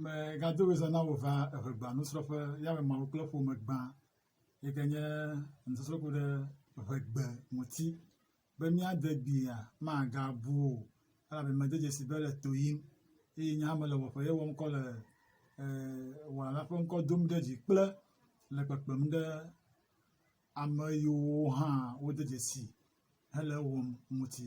Megado ɣedzia na wò va eŋegba nusrɔ̃ƒe ya me Mawu kple ƒome gbã yi ke nye nusɔsrɔ̃ ku ɖe eŋegbe ŋuti be míade gbia magabu o elabe mede dzesi be le to yim eye nye hã mele wɔƒe ye wɔm kɔ le e, wɔla ƒe ŋkɔ dom ɖe dzi kple le kpekpem ɖe ame yiwo hã wode dzesi hele ewɔm ŋuti.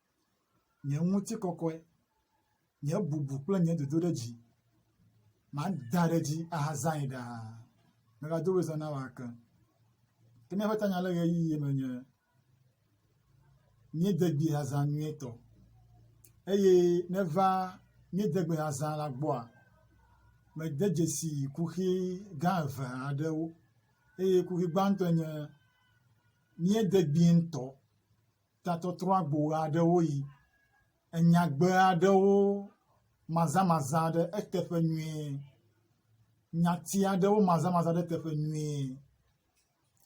nye ŋutikɔkɔe, nye bubu kple nye dodoɖedzi, mada ɖe edzi ahazãe ɖaa. Megado wòe zã na wò ake. Ke míaƒe tanya le ɣeyiɣi me nye míede gbi hazã nyuietɔ eye neva míede gbi hazã la gbɔa, mede dzesi kuxi gã eve aɖewo eye kuxi gbãtɔe nye míede gbi ŋutɔ tatɔtrɔ agbo ɣe aɖewo ɣi, enyagbe aɖewo mazamaza ɖe eteƒe nyuie, nyati aɖewo mazamaza ɖe eteƒe nyuie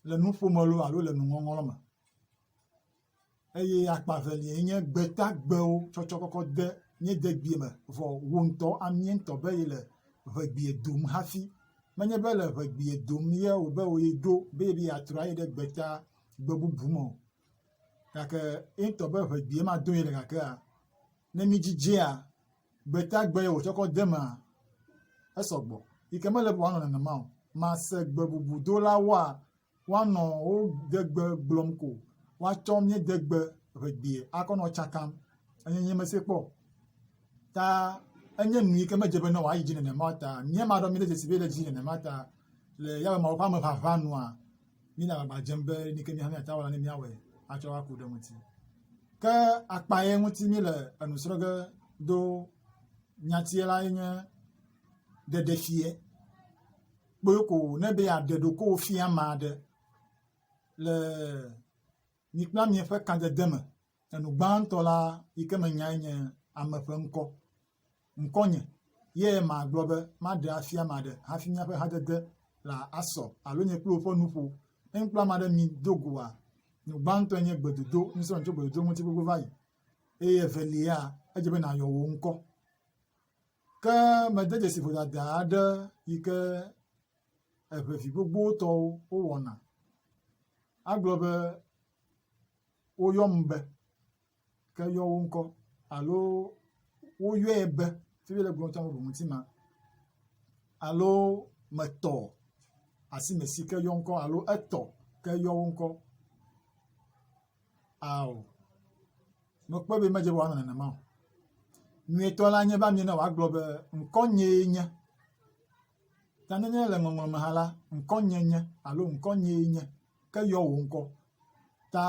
le nuƒome lɔ alo le nuŋɔŋlɔ lɔ me eye akpa evelia enye gbetagbewo tsɔtsɔ kɔkɔ de mía degbea me vɔ wò ŋutɔ amie ŋutɔ be ye le ŋegbea dom hafi. Menye be le ŋegbea dom ye wòbe wò ye ɖo be ye be yeatrɔ ayi ɖe gbeta gbe bubu me o. gake ye ŋutɔ be ŋe gbee madoe le gakea ne midzidzea gbeta gbe ye wòtsɔ kɔ de emea esɔ gbɔ yi ke mele be wòanɔ nenema o. Mase gbebubudola woanɔ wo degbe gblɔm ko woatsɔ míedegbe ŋe gbee akɔ nɔ tsakam eye nyemese kpɔ o ta enye nu yi ke medze be ne wòayi dzi nenema o ta míaɖe mí ɖe dzesi be ele dzi nenema o ta le yawɛ mawu ƒe ameʋaʋã nua míele agbagba dzem be nu yi ke míaƒe míate ŋu awɔ la, míawɔe atsɔ aku ɖe eŋuti. Ke akpa ye ŋuti míele enu srɔ̃ ge do nyatie lae nye ɖeɖefia. Kpɔe ko wò ne be yeaɖe ɖokuiwò fia ame aɖe le Mi kple amea ƒe kãdede me, enu gbãtɔ la yi ke menyae nye ame ƒe ŋkɔ. Ŋkɔnye ye magblɔ be maɖe afia ame aɖe hafi míaƒe hadede la asɔ alo nye kple wò ƒe nuƒo. Ne mi kple ame aɖe mi do goa, nu gbãtɔe nye gbedodo, nusrɔ̃ tso gbedodo ŋuti gbogbo va yi. Eye evelia, edze be nàyɔ wò ŋkɔ. Ke mede dzesi vodada aɖe yi ke eŋevi gbogbowo tɔwo wowɔna. Agblɔ be woyɔm be ke yɔ wo ŋkɔ alo woyɔe be fi mi le gblɔm tsã woɖo ŋuti ma alo metɔ asi me si ke yɔ ŋkɔ alo etɔ ke yɔ wo ŋkɔ ao mekpɔe be medze be wòanɔ nenema o. Nyuietɔ la nye be amiena wòagblɔ be ŋkɔnyee nye. Ta nenye le ŋɔŋlɔ me hã la, ŋkɔnye nye alo ŋkɔnyee nye ke yɔ wò ŋkɔ. Ta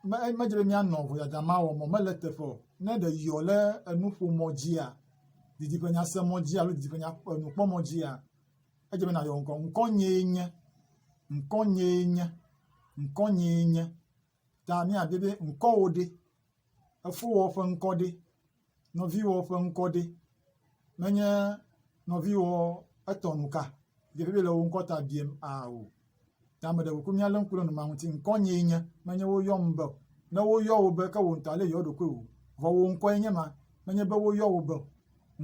me medze be míanɔ vodada ma wɔm o, mele teƒe o. Ne ɖe yɔ le enuƒomɔ dzia, didiƒenyasemɔ dzi alo didiƒenya enukpɔmɔ dzia, edze be nàyɔ ŋkɔ. Ŋkɔnyee nye, ŋkɔnyee nye, ŋkɔnyee nye. Ta míabia be ŋkɔwò ɖe? Efowɔ ƒe ŋkɔ ɖe? Nɔviwɔ ƒe ŋkɔ ɖe menye nɔviwɔ etɔ nu ka ɖevi le wò ŋkɔ ta biem aa o ta me ɖe wòku míalé ŋku ɖe numa ŋuti ŋkɔ nyee nye menye woyɔm be ne woyɔ wò be ke wò ŋutɔ ale yɔ ɖokui wò vɔ wò ŋkɔe nye ma menye be woyɔ wò be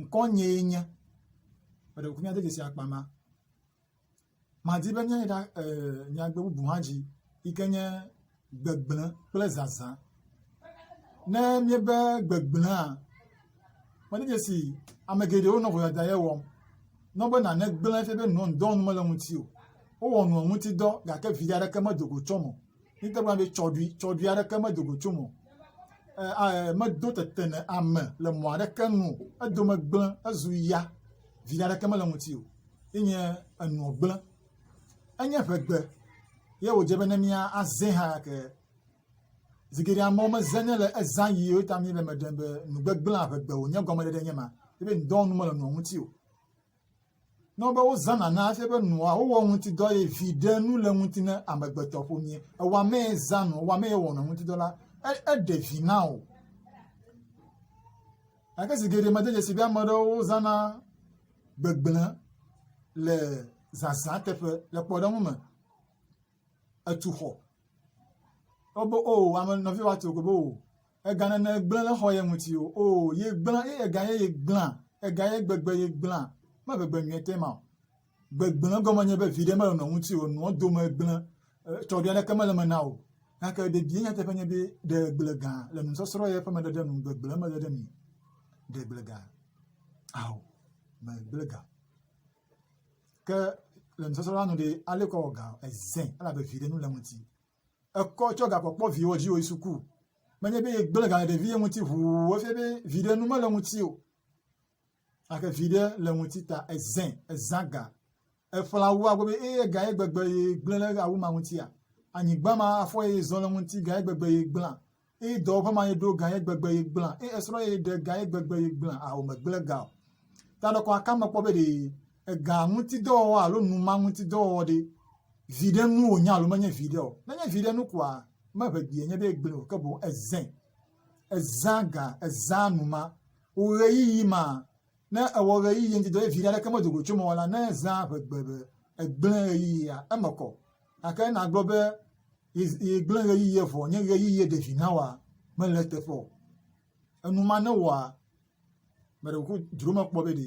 ŋkɔ nyee nye me ɖe wòku míade dzesi akpa ma madi be míayi ɖa e nyagbe bubu hã dzi yi ke nye gbegblẽ kple zazã. Ne míebe gbegblẽa, menye dzesi ame geɖewo nɔ vodada ye wɔm. Ne wobe nane gblẽ fia be nɔn dɔ nu mele ŋuti o. Wowɔ nua ŋuti dɔ gake viɖe aɖeke medo go tsɔ me o. míete ŋu agblɔ be tsɔɖui, tsɔɖui aɖeke medo go tsom o, e, medo tete ne ame le mɔ aɖeke nu o, edome gblẽ, ezu ya, viɖe aɖeke mele ŋuti o, ye nye enɔ gblẽ. Enye ʋegbe, ye wòdze be ne mía azẽ hã ke zi geɖe amewo mezẽ ne le ezã yi ye ta míele me ɖem be nugbegblẽa ʋegbe wònye gɔmeɖeɖe nye ma, ye be ŋdɔ nu mele nua ŋuti o. ne wobe wozãna na efia be nua wowɔ ŋuti dɔ eye viɖe nu le ŋuti ne amegbetɔ ƒomie. Ewa mee zã nɔ, ewa mee wɔnɔ ŋuti dɔ la, eɖe vi na o. Gake zi geɖe mede dzesi be ame aɖewo zãna gbegblẽ le zazã teƒe le kpɔɖeŋu me. Etu xɔ. Wobe o oh, ame nɔvi wa tu o, o. Ega nènɔ egblẽ le xɔ ye ŋuti o. Oo, ye gblẽ, ye ega ye ye gblẽa, ega ye gbegbe ye gblẽa, meve gbe nyuietɔ ema o. Gbegblẽ gɔme nye be viɖe mele nɔ ŋuti o, nɔ dome gblẽ, tsɔɖui aɖeke mele eme na o. Gake ɖevie nyateƒe nye be ɖe gble gã le nusɔsrɔ̃ ye ƒe meɖeɖe nu gbegblẽ mele ɖe mi. Ɖe gble gã. Ao, me gble gã. Ke le nusɔsrɔ̃ la nu ɖe, ale kɔ wɔ gã, ezẽ, elabe viɖe nu le ŋuti. ekɔ tsɔ gakpɔkpɔ viwo dzi woyi suku. Menye be yegblẽ ga le ɖeviwo ŋuti ʋuu efia be viɖe nu mele ŋuti o. Gake viɖe le ŋuti ta ezẽ, ezã ga. Eƒle awua gbɔ be eye ga ye gbegbe yegblẽ ɖe awu ma ŋutia? Anyigba ma afɔ ye zɔ le ŋuti ga ye gbegbe yegblẽa? Eyi dɔwɔƒe ma ye ɖo gã ye gbegbe ye gblẽ. Eyi esrɔ̃ ye ɖe gã ye gbegbe ye gblẽ. Ao megblẽ gã o. Ta ɖe kɔ aka mekpɔ be ɖe ega ŋuti dɔwɔwɔ alo numa ŋuti dɔwɔwɔ ɖe viɖe nu wònye alo menye viɖe o. Ne nye viɖe nu koa, meʋe gbee nye be egblẽ o, ke boŋ ezẽ. Ezã gã, ezã numa. Wò ɣeyiɣi ma, ne ewɔ ɣeyiɣi ŋuti dɔ ye viɖe aɖeke medo go tso eme o la, ne ezã ʋe gbe be egblẽ ɣeyiɣia, eme kɔ. Gake nàgblɔ be, Yi, yi gblẽ ɣeyiɣie vɔ, nye ɣeyiɣie ɖe vi nawa, mele eteƒe o. Enu ma newɔa, me ɖe kuku dzro mekpɔ be ɖe,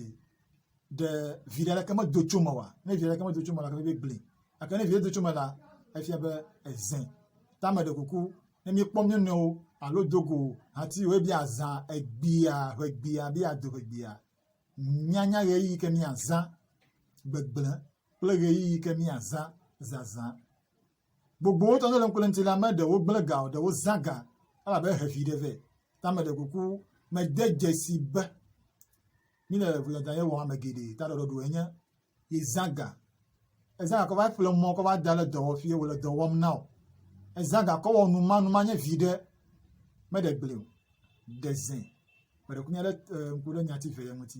ɖe vi ɖe aleke medo tso me oa? Ne vi aleke medo tso me la, gake be gblẽ. Gake ne vi do tso me la, efia be ezẽ. Ta me ɖe kuku, ne míekpɔ mía nɔewo alo do go hati o ebe azã egbea, ʋegbea, be ado ʋegbea, míanya ɣeyiɣi ke míazã gbegblẽ. kple ɣeyiɣi yi ke míazã zazã. Gbogbowo tɔ le ŋkule ŋuti la, ame ɖewo gblẽ ga o, ɖewo zã ga elabe he vi ɖe vɛ. Ta meɖe kuku mede dzesi be míle ŋudzadza ye wɔm ame geɖe ta ɖɔɖɔɖo enye yezã ga. Ezã ga kɔ va ƒle mɔ kɔ va da ɖe dɔwɔƒi ye wòle dɔ wɔm na o. Ezã ga kɔ wɔ numanuma nye viɖe meɖe gblẽ o. Ɖe zẽ. Meɖe kuku mía ɖe ŋku ɖe nyati ve ye ŋuti.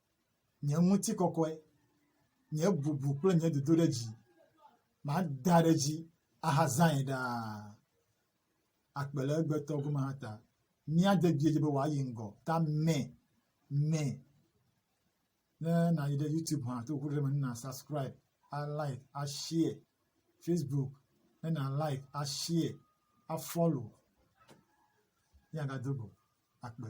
nye ŋutikɔkɔe, nye bubu kple nye dodoɖedzi, mada ɖe edzi ahazãe ɖaa akpe le egbetɔ gome hã ta. Mía dedie dzi be wòayi ŋgɔ ta mɛ mɛ. Ne nàyi ɖe YouTube hã to ŋkuɖoɖi me ne nàsubscribe, alike, ashare. Facebook ne nàlike, ashare, afollow míagado go akpe.